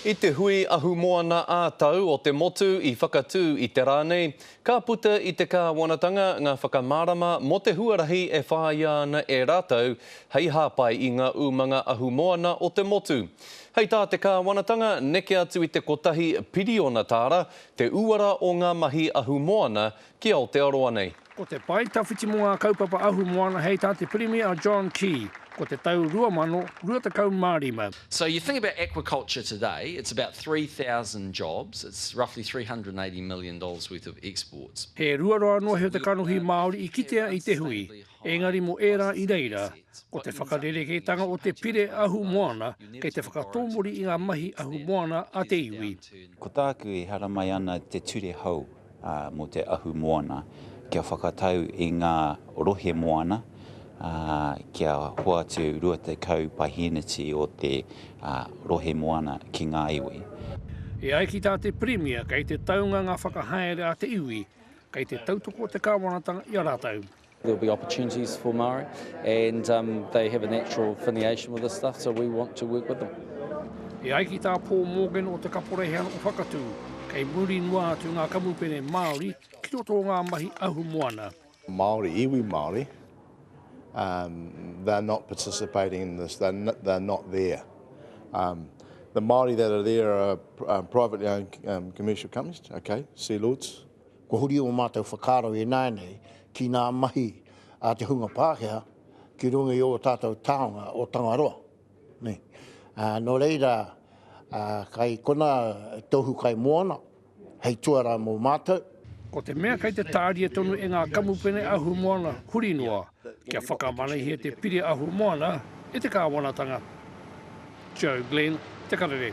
I te hui ahumoana ā-tau o te motu i whakatū i te rā nei, ka puta i te kāwanatanga ngā whakamārama mō te huarahi e whāia ana e rātou hei hāpai i ngā umanga ahumoana o te motu. Hei tā te kāwanatanga, neke atu i te kotahi piriona tāra te uara o ngā mahi ahumoana ki Aotearoa nei. Ko te pae tawhiti mō ngā kaupapa ahu moana hei tā te Pirimia a John Key, ko te tau 2025. So you think about aquaculture today, it's about 3000 jobs, it's roughly 380 million dollars worth of exports. He ruaroa anō he o te kanohi Māori i kitea i te hui, engari mō ērā i reira, ko te whakarerekētanga o te pire ahu moana kei te whakatōmuri i ngā mahi ahu moana a te iwi. Ko tāku e haramai ana te ture hou. mō te ahu moana, kia whakatau i ngā rohe moana, ā, kia hoatu 20 paheneti o te rohe moana ki ngā iwi. E ai ki tā te Pirimia, kei te taunga ngā whakahaere a te iwi, kei te tautoko te kāwanatanga i a rātou. There'll be opportunities for Māori and um, they have a natural affiliation with this stuff, so we want to work with them. E ai ki tā Paul Morgan o Te Kaporeihana o Whakatū, kei muri noa atu ngā kamupene Māori ki roto o ngā mahi ahu moana. Māori, iwi Māori, um, they're not participating in this, they're not, they're not there. Um, the Māori that are there are um, privately owned um, commercial companies, okay, sea lords, Kua huri ō mātou whakaaro ināianei ki ngā mahi a te hunga Pākehā ki runga i ō tātou taonga o Tangaroa. Nō reira, kei konā Tohu Kai Moana hei tuarā mō mātou. Ko te mea kei te tāria tonu e ngā kamupene ahumoana huri noa kia whakamanahia te pire ahumoana e te kāwanatanga. Joe Glenn, Te Karere.